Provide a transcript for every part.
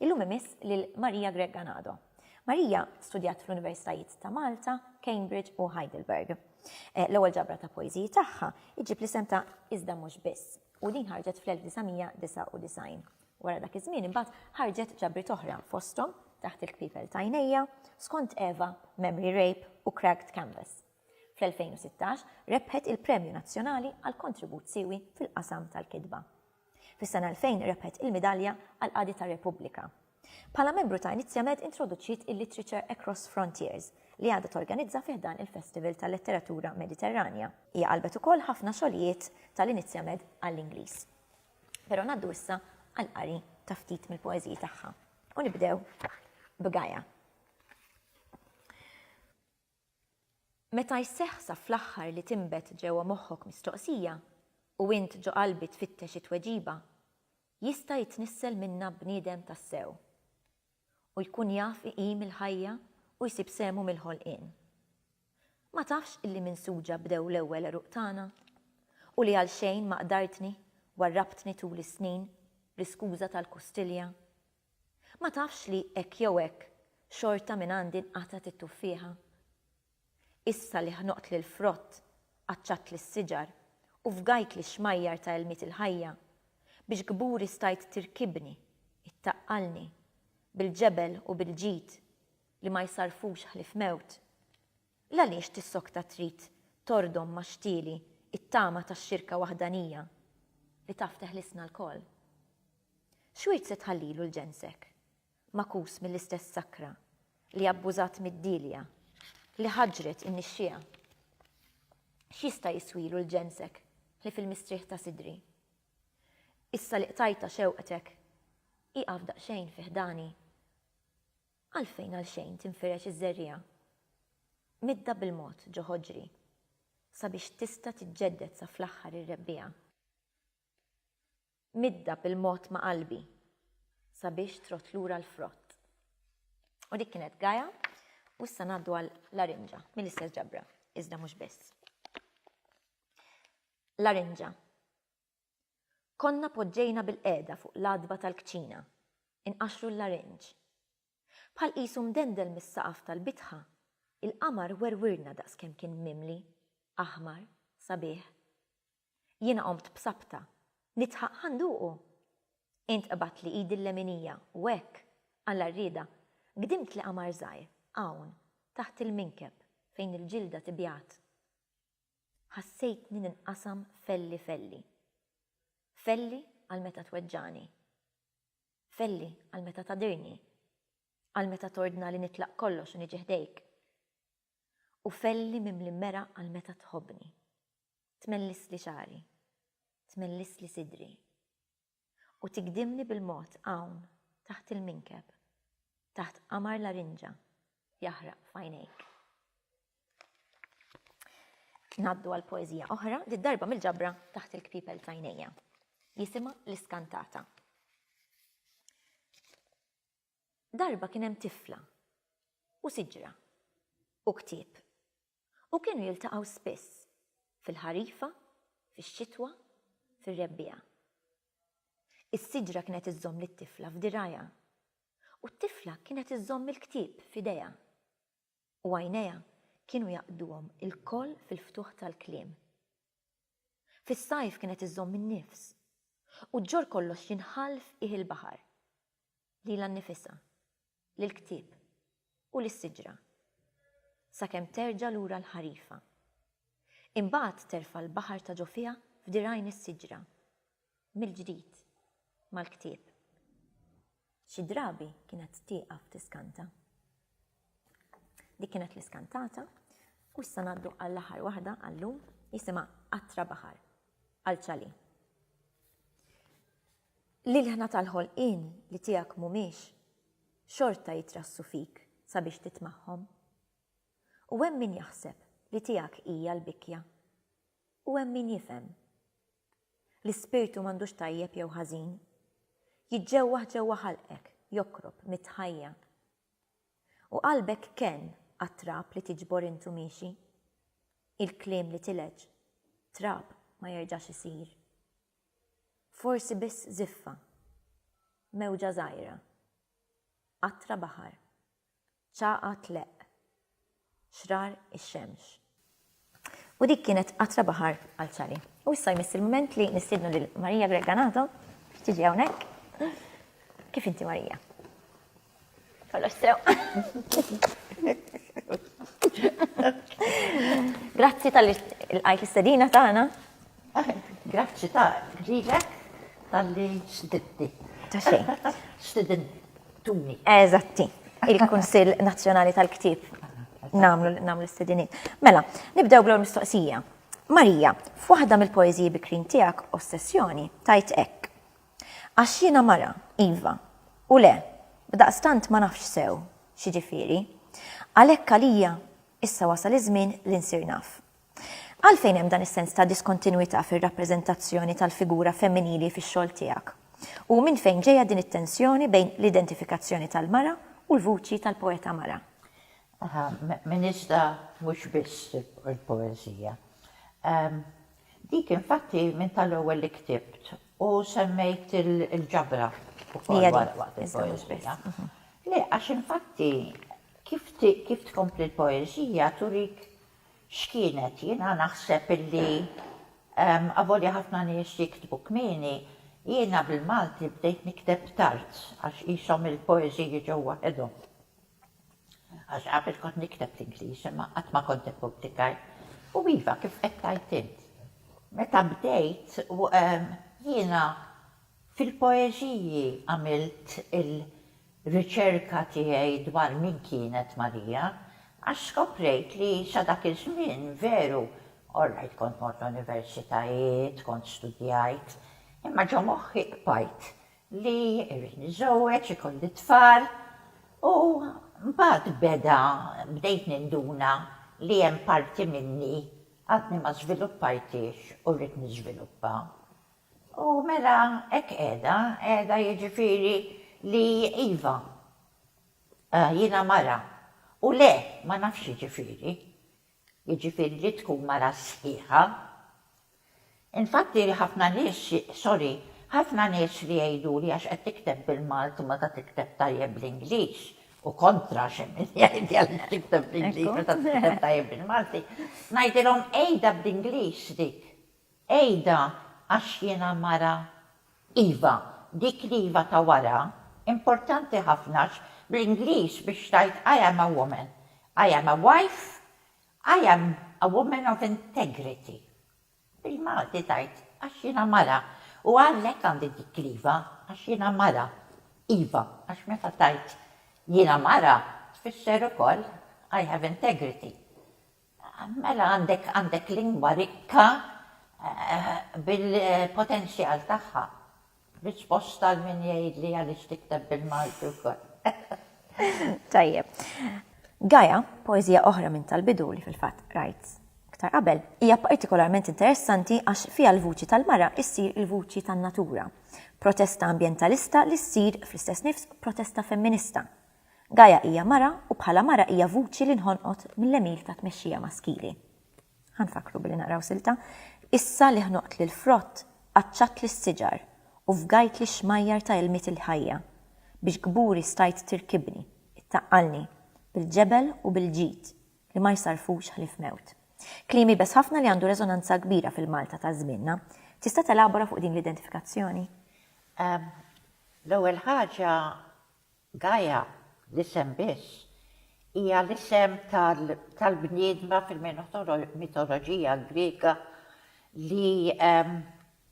Illum imiss lil Maria Grech Ganado. Maria studjat fl-Universitajiet ta' Malta, Cambridge u Heidelberg. L-ewwel ġabra ta' poeżiji tagħha iġġib l-isem ta' Iżda mhux biss u din ħarġet fl-1999. Wara dak iż-żmien imbagħad ħarġet ġabriet oħra fosthom Taħt il-kpipel t'għajnejja, Skont Eva, Memory Rape u Cracked Canvas. Fl-2016 rebħet il-Premju Nazzjonali għal Kontribut Siewi fil-Qasam tal-Kitba. Fis-sena 2000 rebħet il-Midalja għal Qadi tar-Repubblika. Bħala membru ta' Inizjamed introduċiet il-Literature Across Frontiers, li għadha torganizza fi ħdan il-Festival tal-Letteratura Mediterranja. Hija qalbet ukoll ħafna xogħlijiet tal-Inizjamed għall-Ingliż. Però ngħaddu issa għall-qari ta' ftit mill-poeżiji tagħha u nibdew b'Gaia. Meta jseħħ sa fl-aħħar li tinbet ġewwa moħħok mistoqsija, u int ġo qalbi tfittex it-tweġiba, jista' jitnissel minnha bniedem tassew. U jkun jaf iqim il-ħajja u jsib sehmu mill-ħolqien. Ma tafx illi minn suġa bdew l-ewwel għeruq tagħna? U li għalxejn ma qdartni, warrabtni tul is-snin, bl-iskuża tal-kustilja? Ma tafx li hekk jew hekk xorta minn għandi nqatgħet it-tuffieħa? Issa li ħnoqtli l-frott, qaċċattli s-siġar u fgajtli x-xmajjar ta' ilmiet il-ħajja, biex kburi stajt tirkibni, ittaqqalni, bil-ġebel u bil-ġid, li ma jsarrfux ħlief mewt. L-għaliex tissokta trid tordom ma' xtieli t-tama ta' xirka waħdanija li taf teħlisna lkoll? X'wirt se tħallilu l-ġensek, magħkus mill-istess sakra li abbużat mid-dielja li ħaġġret in-nixxiegħa? X'jista' jiswilu l-ġensek li fil-mistrieħ ta' sidri? Issa li qtajtha xewqtek, ieqaf daqsxejn fi ħdani. Għalfejn għalxejn tinfirex iż-żerriegħa midda bil-mod ġo ħoġri, sabiex tista' tiġġedded sa fl-aħħar ir-rebbiegħa? Midda bil-mod ma' qalbi, sabiex trodd lura l-frott. U dik kienet Gaja, u issa ngħaddu għal Larinġa, mill-istess ġabra, iżda mhux biss. Larinġa. Konna poġġejna bilqiegħda fuq l-għatba tal-kċina, inqaxxru l-larinġ. Bħal qisu mdendel mis-saqaf tal-bitħa, il-qamar werwirna daqskemm kien mimli, aħmar, sabiħ. Jiena qomt b'sabta, nidħaq ħa nduqu! Int qbadtli idi l-leminija u hekk, Alla rriedha, gdimtli qamar żgħir, hawn, taħt il-minkeb, fejn il-ġilda tibjad. Ħassejtni ninqasam felli felli. Felli għal meta tweġġagħni. Felli għal meta tagħdirni. Għal meta tordna li nitlaq kollox u niġi ħdejk. U felli mimli meraq għal meta tħobbni. Tmellisli xagħri. Tmellisli sidri. u tigdimni bil-mod hawn taħt il-minkeb, taħt qamar larinġa jaħraq f'għajnejk. Ngħaddu għal poeżija oħra, di darba mill-ġabra taħt il-kpipel tajnejja. Jisima l-iskantata. Darba kien hemm tifla u siġra u ktieb u kienu jiltaqgħu spiss, fil-ħarifa, fix-xitwa, fir-rebbiegħa. Is-siġra kienet iżżomm lit-tifla f'dirgħajha, u t-tifla kienet iżżomm il-ktieb f'idejha, u għajnejha kienu jaqduhom ilkoll fil-ftuħ tal-kliem. Fis-sajf kienet iżżomm in-nifs, u ġġorr kollox jinħall f'qiegħ il-baħar. lilha nnifisha, lill-ktieb, u lis-siġra, sakemm terġa' lura l-ħarifa. Imbagħad terfa' l-baħar ta' ġo fiha f'dirgħajn is-siġra, mill-ġdid, mal-ktieb. Xi drabi kienet tieqaf tiskanta. Dik kienet l-iskantata, u issa ngħaddu għall-aħħar waħda għal-lum, jisimha Qatra Baħar, għal Ċali. L-ilħna tal-ħolqien li tiegħek mhumiex xorta jitrassu fik sabiex titmagħhom. U hemm min jaħseb li tiegħek hija l-bikkja. U hemm min jifhem. L-ispirtu m'għandux tajjeb jew ħażin. Jiġġewwaħ ġewwa ħalqek, jokrob mit-tħajja. U qalbek kenn għat-trab li tiġbor intu miexi. Il-kliem li tilgħeġ trab ma jerġax isir. Forsi biss żiffa. Mewġa żgħira. Qatra baħar. Ċagħa tleqq. Xrar ix-xemx. U dik kienet qatra baħar għal Ċari. U issa jmiss il-mument li nistiednu lil Marija Greganato biex tiġi hawnhekk. Kif inti Marija? Grazzi tal-għajt istedina tagħna. Grazzi ta' ġilek tal-li xtidibti. Ta' xejn. Xtidin tuni. Eżatti. Il-Kunsill Nazzjonali tal-Ktib. Namlu namlu s-sedini. Mela, nibdew bl mistoqsija. Marija, f'waħda mill-poeziji bikrin tiegħek ossessjoni, tajt hekk. Għax jiena mara, iva, u le, b'daqstant ma nafx sew x'jiġifieri. Għalhekk għalija, issa wasal iż-żmien li nsir naf. Għalfejn hemm dan is-sens ta' diskontinwità fir-rappreżentazzjoni tal-figura femminili fix-xogħol tiegħek? U minn fejn ġejja din it-tensjoni bejn l-identifikazzjoni tal-mara u l-vuċi tal-poeta mara? Aha, minn iżda mhux biss il-poeżija. Dik infatti minn tal-ewwel li ktibt u semmejt il-ġabra wkoll waqt il-poeżija. Le, għax infatti kif tkompli l-poeżija turik x'kienet. Jiena naħseb illi avolja ħafna nies jiktbu kmieni, jiena bil-Malti bdejt nikteb tard għax qishom il-poeżiji ġew waħedhom. Għax qabel kont nikteb l-Ingliż imma qatt ma kont ippubblikajt. U iva, kif qed tgħid int, meta bdejt jiena fil-poeżiji għamilt il-riċerka tiegħi dwar min kienet Marija għax skoprejt li sa dak iż-żmien veru, orrajt kont mort l-universitajiet, kont studjajt, imma ġo moħħi qbajt li rrid niżżewweġ, ikolli t-tfal u mbagħad beda bdejt ninduna li hemm parti minni għadni ma żviluppajthiex u rrid niżviluppa. U mela hekk qiegħda, qiegħda jiġifieri li iva, jiena mara u le, ma nafx jiġifieri. jiġifieri li tkun mara sħiħa. Infatti ħafna nies, sorry, ħafna nies li jgħiduli għax qed tikteb bil-Malti meta tikteb tajjeb bl-Ingliż, u kontra għax hemm min jgħid li għaliex tikteb bl-Ingliż meta tikteb tajjeb bil-Malti, ngħidilhom għidha bl-Ingliż dik. Għidha għax jiena mara. Iva, dik l-iva ta' wara importanti ħafna għax bl-Ingliż biex tgħid I am a woman, I am a wife, I am a woman of integrity. Bil-Malti tgħid għax jiena mara u għalhekk għandi dik l-iva għax jiena mara. Iva, għax meta tgħid jiena mara tfisser ukoll I have integrity. Mela għandek għandek lingwa rikka bil-potenzjal tagħha. Risposta għal min jgħidli għaliex tikteb bil-Malti wkoll. Tajjeb. Gaja, poeżija oħra minn tal-bidu li fil-fatt qrajt iktar qabel, hija partikolarment interessanti għax fiha l-vuċi tal-mara ssir il-vuċi tan-natura. Protesta ambjentalista li ssir fl-istess nifs protesta femminista. Gaia hija mara u bħala mara hija vuċi li nħonqot mill-għemil ta' tmexxija maskili. Ħa nfakkru billi naqraw silta, Issa li ħnoqtli l-frott, qaċċatli s-siġar, u fgajtli x-xmajjar ta' ilmiet il-ħajja, biex kburi stajt tirkibni, ittaqqalni, bil-ġebel u bil-ġid, li ma jsarrfux ħlief mewt. Kliem iebes ħafna li għandu reżonanza kbira fil-Malta ta' żmienna. Tista' telabora fuq din l-identifikazzjoni? L-ewwel ħaġa, Gaia, l-isem biss, hija l-isem tal-bniedma fil-mitoloġija Griega li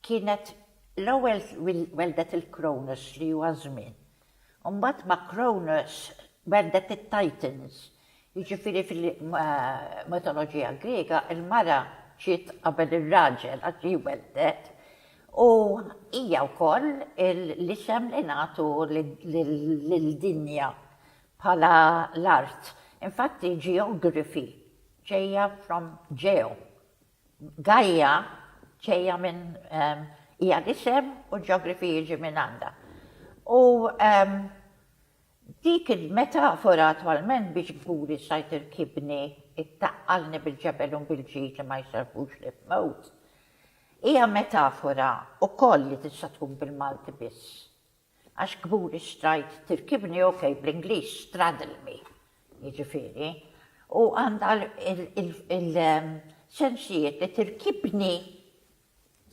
kienet l-ewwel welldet lil Kronos li huwa ż-żmien. Imbagħad ma' Kronos welldet it-Titans Jiġifieri fil-mitoloġija Griega l-mara ġiet qabel ir-raġel għax ġie welded u hija wkoll l-isem li nagħtu lill-dinja bħala l-art. Infatti geography ġejja from geo. Gaia ġejja minn hija l-isem u geography jiġi minn għandha. U Dik il-metafora attwalment biex kburi sajt irkibni, ittaqqalni bil-ġebel u mbil-ġid li ma jserrħux li f'mewt, hija metafora wkoll li tista' tkun bil-Malti biss. Għax kburi strajt tirkibni ok bl-Ingliż straddle me jiġifieri, u għandha l-sensijiet li tirkibni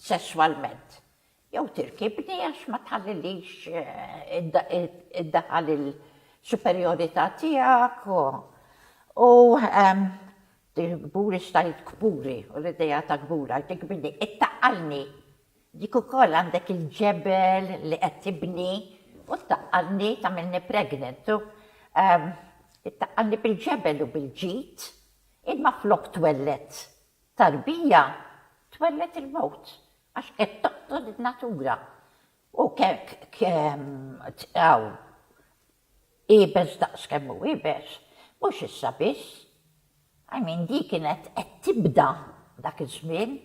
sesswalment. Jew tirkibni għax ma tħallilix iddaħħal il-superjorità tiegħek u kburi xtajt kburi u l-idea ta' kbur għal tikbirni, ittaqqalni, dik ukoll għandek il-ġebel li qed tibni u ttaqqalni tagħmilni pregnant u ittaqqalni bil-ġebel u bil-ġid, imma flok twelled tarbija twelled il-mewt. Għax qed toqtol in-natura. U kekk tqigħu iebes daqs kemm hu iebes, mhux issa biss. I mean, di kienet qed tibda dak iż-żmien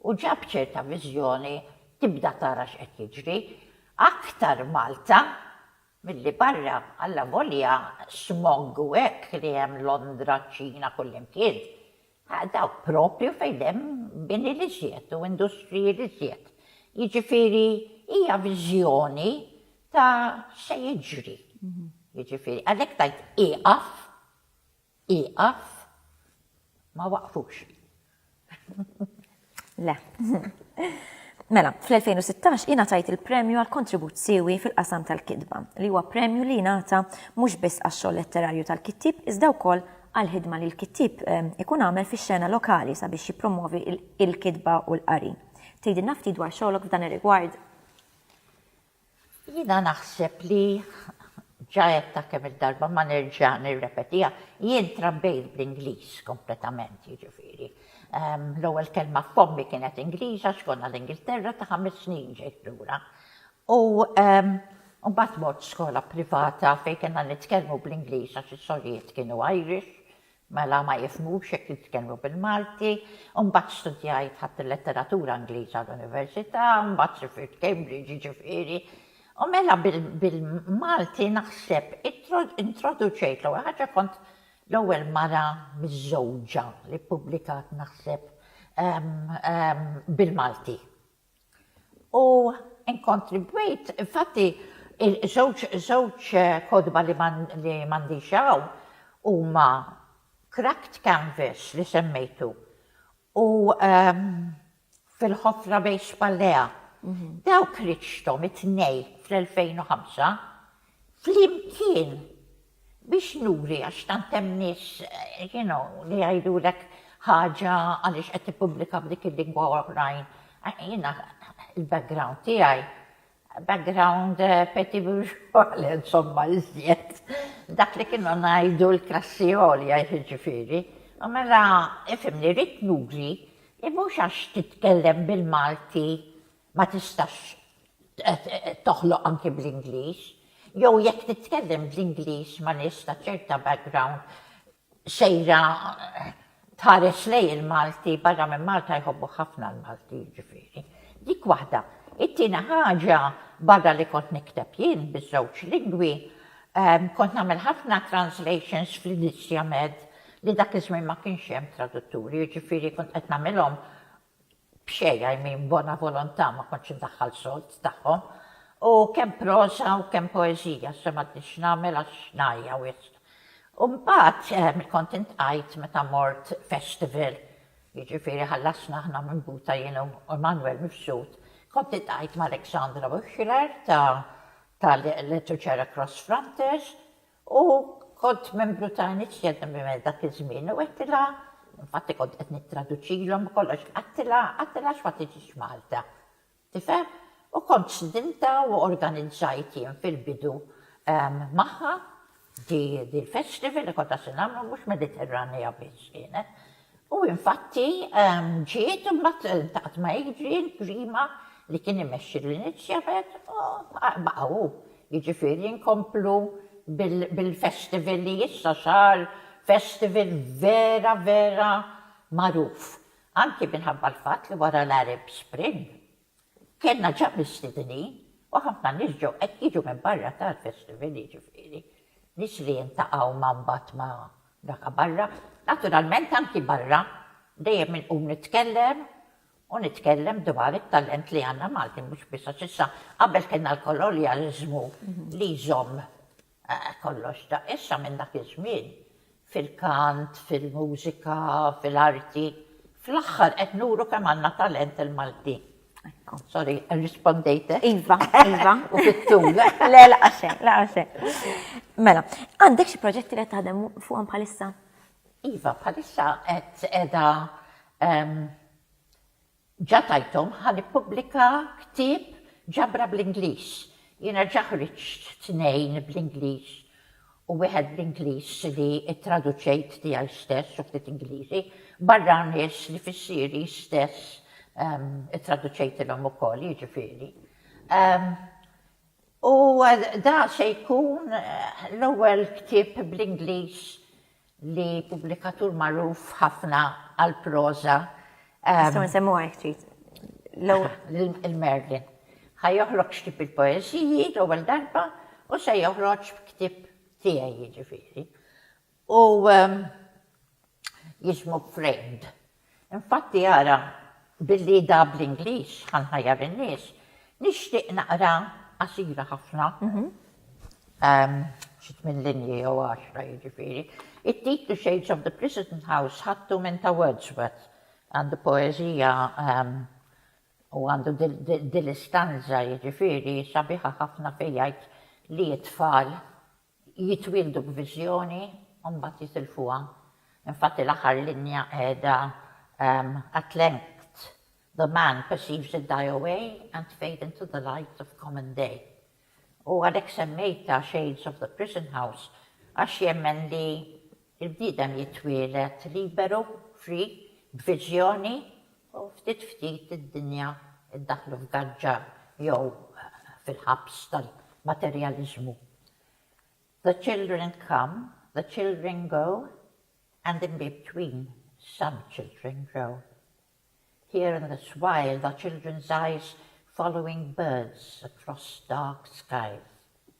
u ġa b'ċerta viżjoni tibda tara x'qed jiġri. Aktar Malta milli barra, allavolja smog u hekk li hemm Londra, ċ-Ċina, kullimkien, Dawk proprju fejn hemm bini l-iżjed u industriji l-iżjed. Jiġifieri hija viżjoni ta' x'se jiġri. Jiġifieri għalhekk tgħid ieqaf, ieqaf, ma waqfux. Le. Mela, fl-2016 ingħatajt il-premju għal kontribut siewi fil-qasam tal-kitba, li huwa premju li jingħata mhux biss għax-xogħol letterarju tal-kittieb iżda wkoll għall-ħidma li l-kittieb ehm, ikun għamel fix-xena lokali sabiex jippromovi il-kitba u l-qari. Tgħidilna ftit dwar xogħolok f'dan ir-rigward? Jiena naħseb li ġa għedtha kemm il-darba ma nerġa' nirrepetiha, jien trabbejt bl-Ingliż kompletament, jiġifieri l-ewwel kelma f'fommi kienet Ingliż għax konna l-Ingilterra ta' ħames snin ġejt lura. U mbagħad mort skola privata fejn kellna nitkellmu bl-Ingliż għax is-sorijiet kienu Irish, Mela ma jifhmux jekk jitkellmu bil-Malti. U mbagħad studjajt, ħadt il-letteratura Ingliża l-università, u mbagħad sifirt Cambridge, jiġifieri. U mela bil-Malti naħseb introduċejt, l-ewwel ħaġa kont l-ewwel mara miżżewġa li ppubblikat naħseb bil-Malti. U inkontribwejt, infatti, żewġ żewġ kotba li li m'għandix hawn huma Cracked Canvas li semmejtu u Fil-Ħofra Bejn Spallea. Dawk ħriġthom it-tnejn fl-2005. flimkien biex nuri għax tant hemm nies you know li jgħidulek ħaġa għaliex qed tippubblika f'dik il-lingwa u oħrajn. Jiena il-background tiegħi background eh, petit bourgeois, insomma, iżjed. Dak li kienu ngħidu l-klassi għolja jiġifieri. U mela, ifimni, rrit nuri, mhux għax titkellem bil-Malti ma tistax toħloq anki bl-Ingliż, jew jekk titkellem bl-Ingliż ma' nies ta' ċerta background sejra tħares lejn il-Malti, barra minn Malta jħobbuh ħafna l-Malti jiġifieri. Dik waħda. It-tieni ħaġa, barra li kont nikteb jien biż-żewġ lingwi, kont nagħmel ħafna translations fl-Inizja Med li dak iż-żmien ma kienx hemm tradutturi, jiġifieri kont qed nagħmilhom b'xejn, I mean b'bona volontà, ma kontx indaħħal sold tagħhom, u kemm proża u kemm poeżija, issa m'għadniex nagħmel għax ngħajja wisq. U mbagħad kont intqajt meta mort festival, jiġifieri ħallasna aħna minn Buta jien u Emmanuel Mifsud, kont intqajt ma' Alexandra Wichler ta' Literature Across Frontiers, U kont membru ta' Initiative Women dak iż-żmien u għedtilha, infatti kont qed nittraduċilhom u kollox, għedtilha, għedtilha għax ma tiġix Malta. Tifhem? U kont stidintha u organizzajt jien fil-bidu magħha di l-festival li konna se nagħmlu, mhux Mediterranea biss kienet. U infatti ġiet imbagħad iltaqgħet ma' Adrian Grima li kien imexxi lil Nitxebet u baqa' hu. Jiġifieri nkomplu bil-festival li issa sar festival vera vera magħruf anki minħabba l-fatt li wara l-Arab Spring Kellna ċapisti dinin u ħafna nies ġew qed jiġu minn barra tal-festival jiġifieri nies li jiltaqgħu ma' mbagħad ma' daka barra. Naturalment anki barra dejjem inqum nitkellem u nitkellem dwar it-talent li għandna Malti mhux biss għax issa qabel kellna l-kolonjaliżmu li jżomm Eh, kollox ta' issa minn dak iż-żmien, fil-kant, fil-mużika, fil-arti. Fl-aħħar qed nuru kemm għandna talent il-Maltin. Sorry, irrispondejtek? Iva, iva. U fit-tul. Le, laqa' xejn, laqa' xejn. Mela, għandek xi proġetti li qed taħdem fuqhom bħalissa? Iva, bħalissa qed qiegħda Ġa tajthom ħa nippubblika ktieb ġabra bl-Ingliż. Jiena ġa ħriġt tnejn bl-Ingliż u wieħed bl-Ingliż li ttraduċejt tiegħi stess u ftit Ingliżi, barra nies li fissieri stess ttraduċejtilhom ukoll, jiġifieri. U da se jkun l-ewwel ktieb bl-Ingliż li pubblikatur magħruf ħafna għall-proża. Nistgħu nsemmuha jekk trid. Il-Merlin. Ħa joħroġ ktieb il-poeżiji l-ewwel darba u se joħroġ b'ktieb tiegħi jiġifieri. U jismu Framed. Infatti ara, billi da bl-Ingliż ħa nħajjar in-nies, nixtieq naqra qasira ħafna, xi tmien linji jew għaxra jiġifieri. It-titlu Shades of the Prison House ħadtu minn ta' Wordsworth. Għandu poeżija u għandu din l-istanża jiġifieri sabiħa ħafna fejn jgħid li t-tfal jitwieldu b'viżjoni u mbagħad jitilfuha. Infatti l-aħħar linja qiegħda At length the man perceives it die away and fade into the light of common day. U għalhekk semmejtha Shades of the Prison House għax jemmen li l-bniedem jitwieled liberu, free, b'viżjoni U ftit ftit id-dinja ddaħħlu f'gaġġa jew fil-ħabs tal-materjaliżmu. The children come, the children go and in between some children grow. Here in this while the children's eyes following birds across dark skies.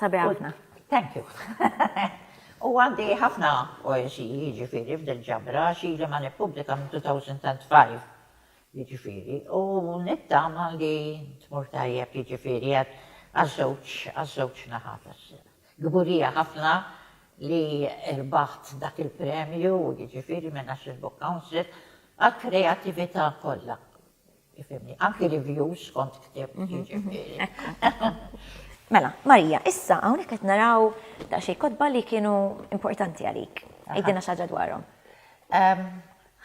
Sabi ħafna. Thank you. U għandi ħafna poesi jiġifieri f'dil ġabra xi li ma nippubblika minn 2005 jiġifieri u nittama li tmur tajjeb jiġifieri għaż-żewġ għaż-żewġ naħat. Kburija ħafna li rbaħt dak il-premju jiġifieri minn National Book Council għall-kreatività kollha. Ifhimni, anki reviews kont ktibt, jiġifieri. Mela, Marija, issa hawnhekk qed naraw daqsxejn kotba li kienu importanti għalik. Għidilna xi ħaġa dwarhom.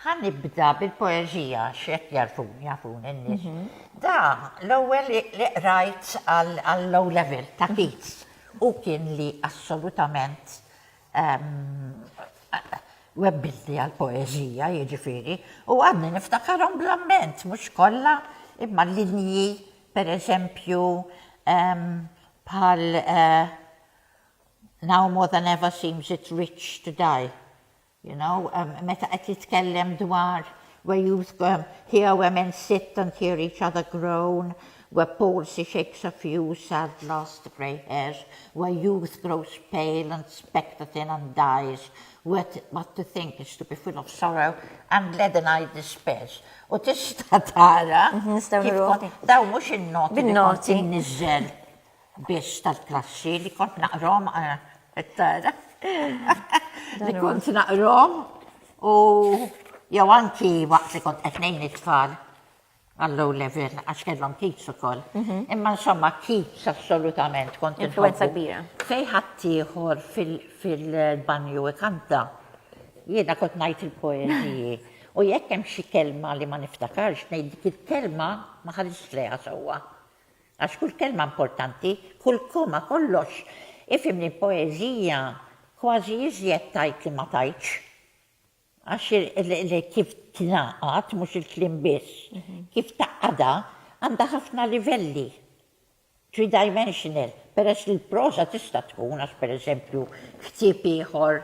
Ħa nibda bil-poeżija x'hekk jagħrfuni, jafuni n-nies. Da l-ewwel li qrajt għall-O Level ta' Keats. Hu kien li assolutament webbilti għal poeżija jiġifieri, u għadni niftakarhom bl-amment, mhux kollha, imma linji pereżempju bħal Now more than ever seems it rich to die, you know, meta qed jitkellem dwar Where youth go, hear where men sit and hear each other groan, Where palsy shakes a few sad last grey hairs, Where youth grows pale and spectre thin and dies, Where what to think is to be full of sorrow and leaden eyed despairs. U tista' tara kif kont, dawn mhux in-noti li kont inniżżel. biex tal-klassi li kont naqrom it-tara. Li kont naqrom u jew anki waqt li kont qed ngħin it-tfal għall-low level għax kellhom kids ukoll. Mhm. Imma insomma kids assolutament kont influenza kbira. Fej ħaddieħor fil-banju ikanta. Jiena kont ngħid il-poeżiji. U jekk hemm xi kelma li ma niftakarx ngħid dik il-kelma ma ħarisx lejha sewwa. Għax kull kelma importanti, kull koma, kollox, ifhimni l-poeżija kważi iżjed tgħid li ma tgħidx. Għax kif tingħaqad, mhux il-kliem biss, kif tgħaqqadha, għandha ħafna livelli, three-dimensional, peress li l-proża tista' tkun, għax pereżempju ktieb ieħor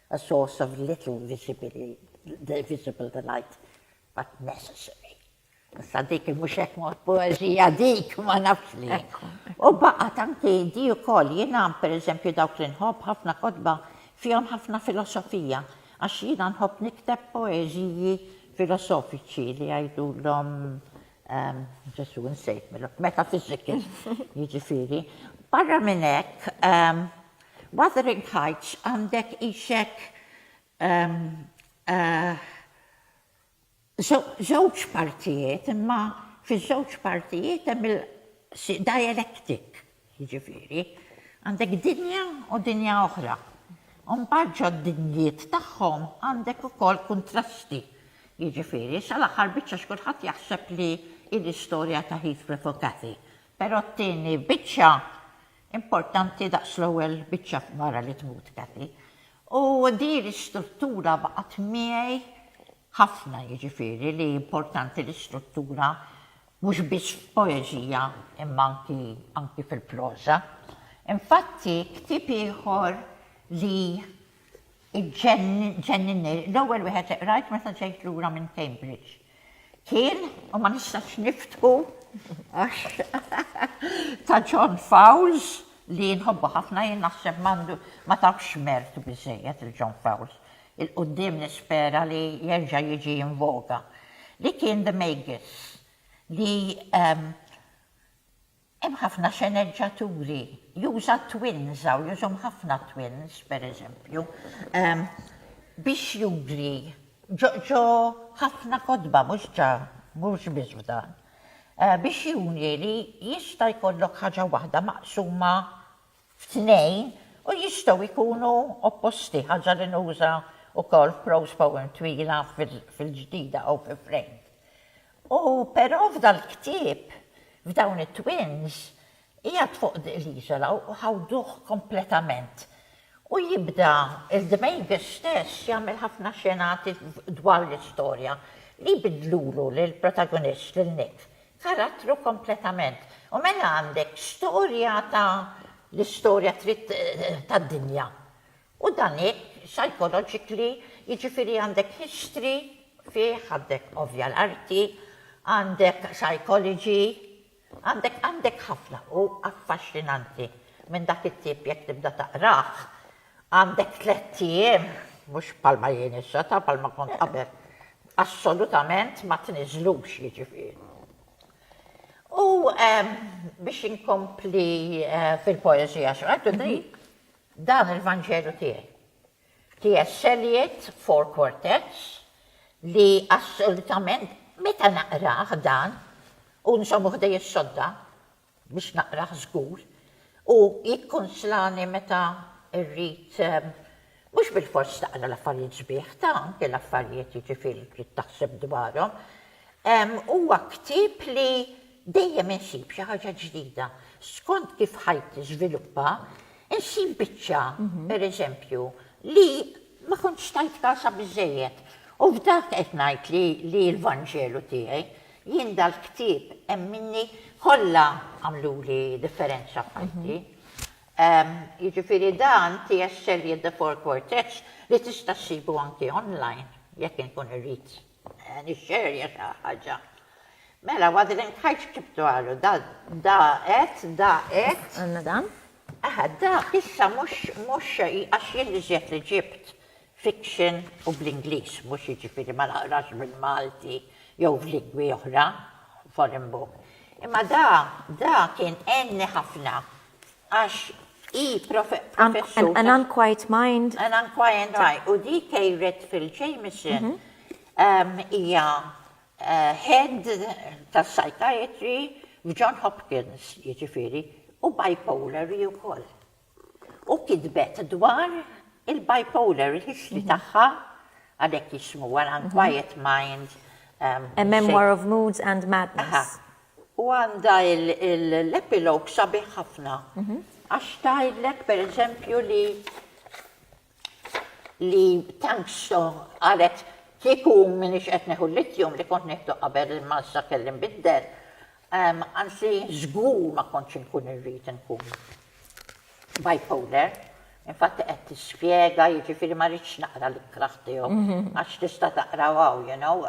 A source of little visibili, the visible delight, but necessary. Issa dik mhux hekk mod poeżija dik ma nafx li. U baqgħet anki di wkoll jiena pereżempju dawk li nħobb ħafna kotba fihom ħafna filosofija għax jiena nħobb nikteb poeżiji filosofiċi li jgħidulhom ehm, Ġesu nsejt meta fiziki jiġifieri. Barra minn hekk ehm, Wuthering Heights għandek ishekk żewġ partijiet imma fiż-żewġ partijiet hemm il dialectic, jiġifieri, għandek dinja u dinja oħra. U mbagħad ġod-dinjiet tagħhom għandek ukoll kuntrasti. Jiġifieri, sal-aħħar biċċa x'kulħadd jaħseb li hi l-istorja ta' Heathcliff u Cathy. Però t-tieni biċċa importanti daqs l-ewwel biċċa wara li tmut Cathy. U din l-istruttura baqgħet miegħi ħafna jiġifieri li importanti l-istruttura mhux biss f'poeżija imma anki anki fil-proża. Infatti ktieb ieħor li Iġġenninni, l-ewwel wieħed li qrajt meta ġejt lura minn Cambridge kien, u ma nistax niftħu għax ta' John Fowles li nħobbu ħafna jien naħseb m'għandu ma tawx mertu biżżejjed lil John Fowles. Il-quddiem nispera li jerġa' jiġi in voga. Li kien The Magus li Hemm ħafna sceneggiaturi juża twins hawn jużhom ħafna twins pereżempju biex juri ġo ġo ħafna kotba mhux ġa mhux biss f'dan biex juri li jista' jkollok ħaġa waħda maqsuma tnejn u jistgħu jkunu opposti, ħaġa li nuża wkoll f'prose poem twila fil-ġdida u fi Framed. U però f'dal-ktieb, f'dawn it-twins, qiegħed fuq l-iżola u ħawduh kompletament. U jibda il-Dmejgħ stess jagħmel ħafna xenati dwar l-istorja li jbiddlulu lill-protagonist, lil Nick, karattru kompletament. U mela għandek storja ta' l-istorja trid tad-dinja. U dan hekk psychologically, jiġifieri għandek history fih, għandek ovvja l-arti, għandek psychology, għandek għandek ħafna. Hu affaxxinanti minn dak it-tip jekk tibda taqrah. Għandek tlett ijiem, mhux bħalma jien issa, taf bħalma kont qabel, assolutament ma tniżżlux jiġifieri. U biex inkompli fil-poeżija x'qed ngħid, dan il-Vanġelu tiegħi. TS. Eliot, Four Quartets, li assolutament meta naqrah dan u nżommu ħdejja s-sodda, biex naqrah żgur, u jikkunslani meta rrid mhux bilfors taqra l-affarijiet sbieħ, ta' anke l-affarijiet jiġifieri li trid taħseb dwarhom. Huwa ktieb li dejjem insib xi ħaġa ġdida. Skont kif ħajti tiżviluppa, insib biċċa, pereżempju, li ma kontx tajt kasha biżżejjed. U f'dak qed ngħid li l-Vanġelu tiegħi Jien dal-ktieb hemm minni kollha għamluli differenza f'ħajti. Jiġifieri dan T.S. Eliot The Four Quartets li tista' ssibu anki online jekk inkun irrid nixxerja xi ħaġa. Mela Wuthering Heights ktibtu għalu, da da qed, da qed. Għandna dan? Aha, dak issa mhux mhux għax jien l-iżjed li ġibt fiction u bl-Ingliż mhux jiġifieri ma naqrax bil-Malti jew f'lingwi oħra, foreign book. Imma da, da kien għenni ħafna għax hi professur. An Unquiet Mind. An Unquiet Mind. U di Kay Redfield Jamieson hija head ta' psychiatry f'John Hopkins, jiġifieri, u bipolar hi wkoll. u kitbet dwar il-bipolar history tagħha, għalhekk jismuha l-unquiet mind. A memoir of moods and madness. U għandha l-epilogue sabiħ ħafna għax tgħidlek pereżempju li li tank so qalet kieku minix qed neħu l-lithium li kont nieħdu qabel imma issa kelli nbiddel, anzi żgur ma kontx inkun irrid inkun bipolar. Infatti qed tispjega, jiġifieri ma rridx naqra l-ikraħ tiegħu għax tista' taqraw hawn, you know.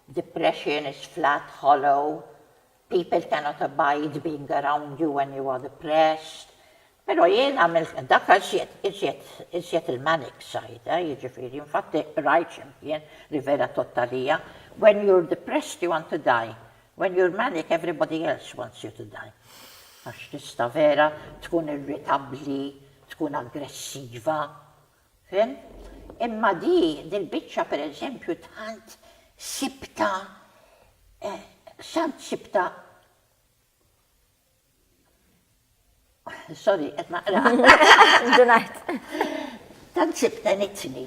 Depression is flat, hollow, people cannot abide being around you when you are depressed. Pero jien għamilt minn dak iżjed, iżjed, iżjed il-manic side, eh, jiġifieri, infatti qrajt x'imkien li vera tgħodd għalija, when you're depressed you want to die, when you're manic everybody else wants you to die. Għax tista' vera tkun irritabbli, tkun aggressiva, Fim? Imma di, dil-biċċa per eżempju tant sibtha sant sibtha sorry qed naqra. Indunajt. Tant sibtha nitni.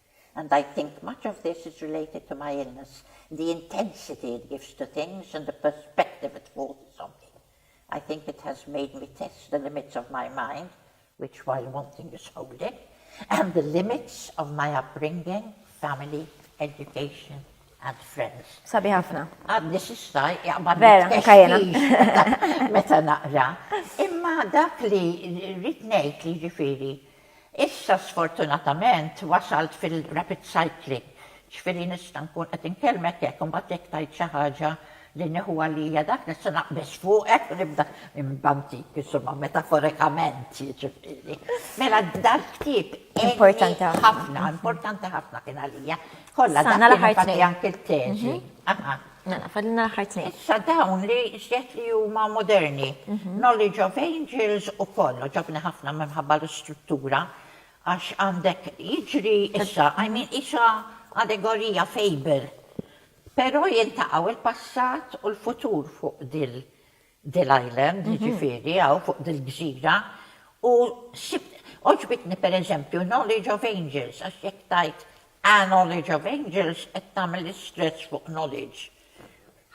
and I think much of this is related to my illness, the intensity it gives to things and the perspective it forces on me. I think it has made me test the limits of my mind, which while wanting is holding, and the limits of my upbringing, family, education, and friends. Sabi ħafna. Għadni sissa, jaqbad meta naqra. Imma dak li rrit ngħid li ġifiri, Issa sfortunatament wasalt fil-rapid cycling, ġifieri nista' nkun qed inkellmek hekk u mbagħad jekk tgħid xi ħaġa li nieħu għalija dak nista' naqbeż fuqek u nibda nbantik, insomma metaforikament jiġifieri. Mela dal-ktieb għenni ħafna, importanti ħafna kien għalija. Kollha dak kien infatti anki t-teżi. Mela, fadlilna l-aħħar tnejn. Issa dawn li żjed li huma moderni, Knowledge of Angels u Paul, għoġobni ħafna minħabba l-istruttura għax għandek jiġri issa, I mean qisha allegorija, fable, però jiltaqgħu l-passat u l-futur fuq din Dil Island, jiġifieri, hawn fuq dil-gżira, u sibt, għoġbitni per eżempju Knowledge of Angels, għax jekk tgħid A Knowledge of Angels qed tagħmel istress fuq knowledge.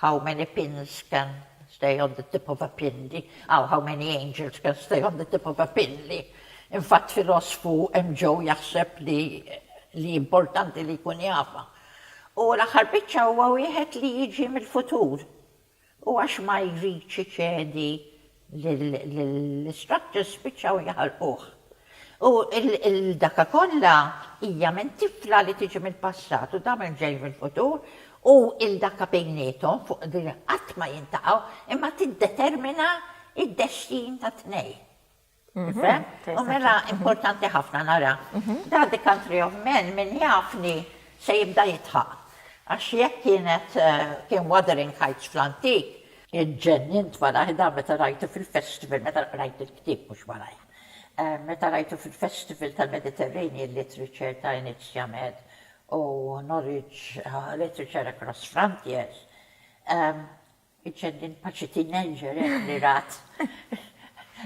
How many pins can stay on the tip of a pin di, aw how many angels can stay on the tip of a pin li, infatt filosfu hemm ġew jaħseb li li importanti li jkun jafha. U l-aħħar biċċa huwa wieħed li jiġi mill-futur. U għax ma jridx iċedi lill-istructors spiċċaw jaħarquh. U l-daka kollha hija minn tifla li tiġi mill-passat u damel ġej mill-futur u l-daka bejniethom fuq li qatt ma jintaqgħu imma tiddetermina d-destin tat-tnejn. U mela importanti ħafna nara. Dak the country of men min jafni se jibda jidħaq. Għax jekk kienet kien Wuthering Heights fl-antik, iġġennint malajr dan meta rajtu fil-festival, meta qrajt il-ktieb mhux malajr, meta rajtu fil-festival tal-Mediterranean Literature ta' Enid Sciamed u Norwich Literature Across Frontiers, Iċċennin paċi teenager hekk li rat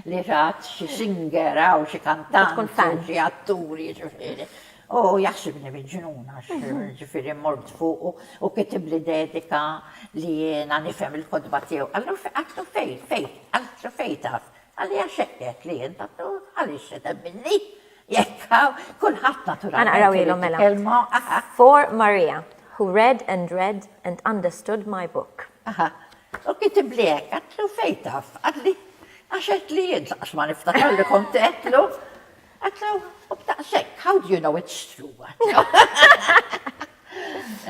li rat xi singer hawn xi kantant jew xi attur jiġifieri. U jaħsibni miġnun għax jiġifieri mort fuqu u kitibli dedika li jiena nifhem il-kotba tiegħu. Allura għidtlu fejn fejn, għidtlu fejn taf. Qalli għax hekk għedt li int. Għaliex se temminni? Jekk hawn, kulħadd naturalment irid jitkellmu. Ħa naqrawhielhom mela. For Maria, who read and read and understood my book. Aha. U kitibli hekk, għedtlu fejn taf? Qalli, għax għedtli jien, lanqas ma niftakar li kont għedtlu. Għedtlu, u b'daqshekk, how do you know it's true?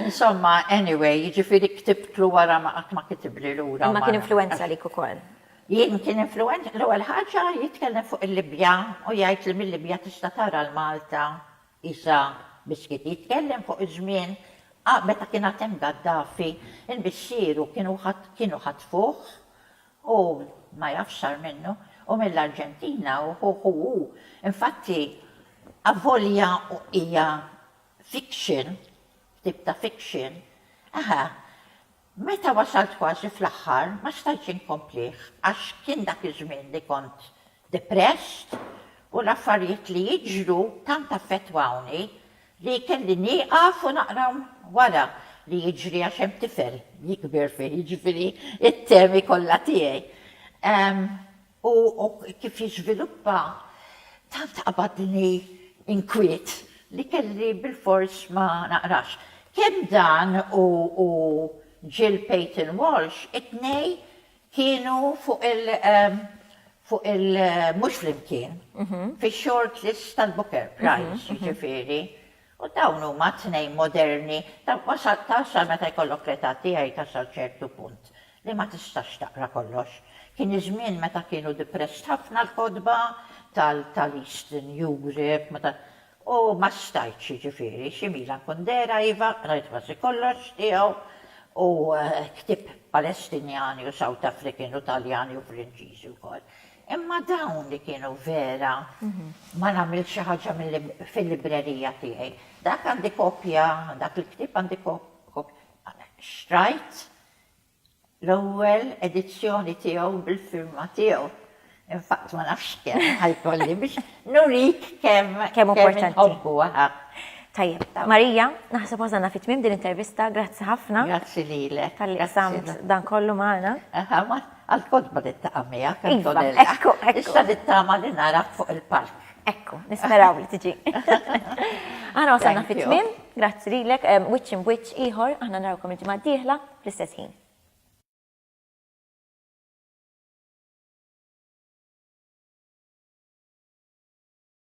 Insomma, anyway, jiġifieri ktibtlu wara ma qatt ma kitibli lura. Imma kien influwenza għalik ukoll. Jien kien influwent l-ewwel ħaġa jitkellem fuq il-Libja u jgħid li mil-Libja tista' tara l-Malta qisha biskit. Jitkellem fuq iż-żmien qa meta kien għad hemm Gaddafi, il-missieru kienu ħat kienu ħatfuh u ma jafx sar minnu, u mill-Arġentina u ħuh u hu. Infatti avolja hija fiction, ktieb ta' fiction, eħe, Meta wasalt kważi fl-aħħar ma stajtx inkomplih għax kien dak iż-żmien li kont depressed u l-affarijiet li jiġru tant affettwawni li kelli nieqaf u naqrahom wara li jiġri għax hemm tifel jikber fih, jiġifieri t-temi kollha tiegħi. u kif jiżviluppa, taf taqbadni inkwiet li kelli bilfors ma naqrax. Kemm dan u Jill Payton Walsh, it-tnejn kienu fuq il, fuq il, mhux flimkien, fix-shortlist tal-Booker Prize, jiġifieri, U dawn huma t-tnejn moderni, dawk ma' sa ta' meta jkollok l-età tiegħi ta' sa ċertu punt, li ma tistax taqra kollox. Kien iż-żmien meta kienu depressed ħafna l-kotba tal-Eastern Europe, u ma stajtx jiġifieri, xi Milan Kundera iva, qrajt kważi kollox tiegħu, u ktieb Palestinjani u South African u Taljani u Franċiżi wkoll. Imma dawn li kienu vera ma nagħmilx xi ħaġa fil-librerija tiegħi. Dak għandi kopja, dak il-ktieb għandi kopja. Xtrajt l-ewwel edizzjoni tiegħu bil-firma tiegħu. In fact ma nafx kemm ħa jkolli biex nurik kemm inħobbu. Tajjeb. Marija, naħseb wasalna fit-tmiem din l-intervista, grazzi ħafna. Grazzi lilek. Talli qsamt dan kollu magħna. Għall-kotba li taqa' miegħek, Antonella. Iva, ekku, ekku. Issa nittama li narak fuq il-palk. Ekku, nisperaw li tiġi. Aħna wasalna fit-tmiem, grazzi lilek, Wiċċ Imb'Wiċċ ieħor, aħna narawkom il-ġimgħa d-dieħla fl-istess ħin.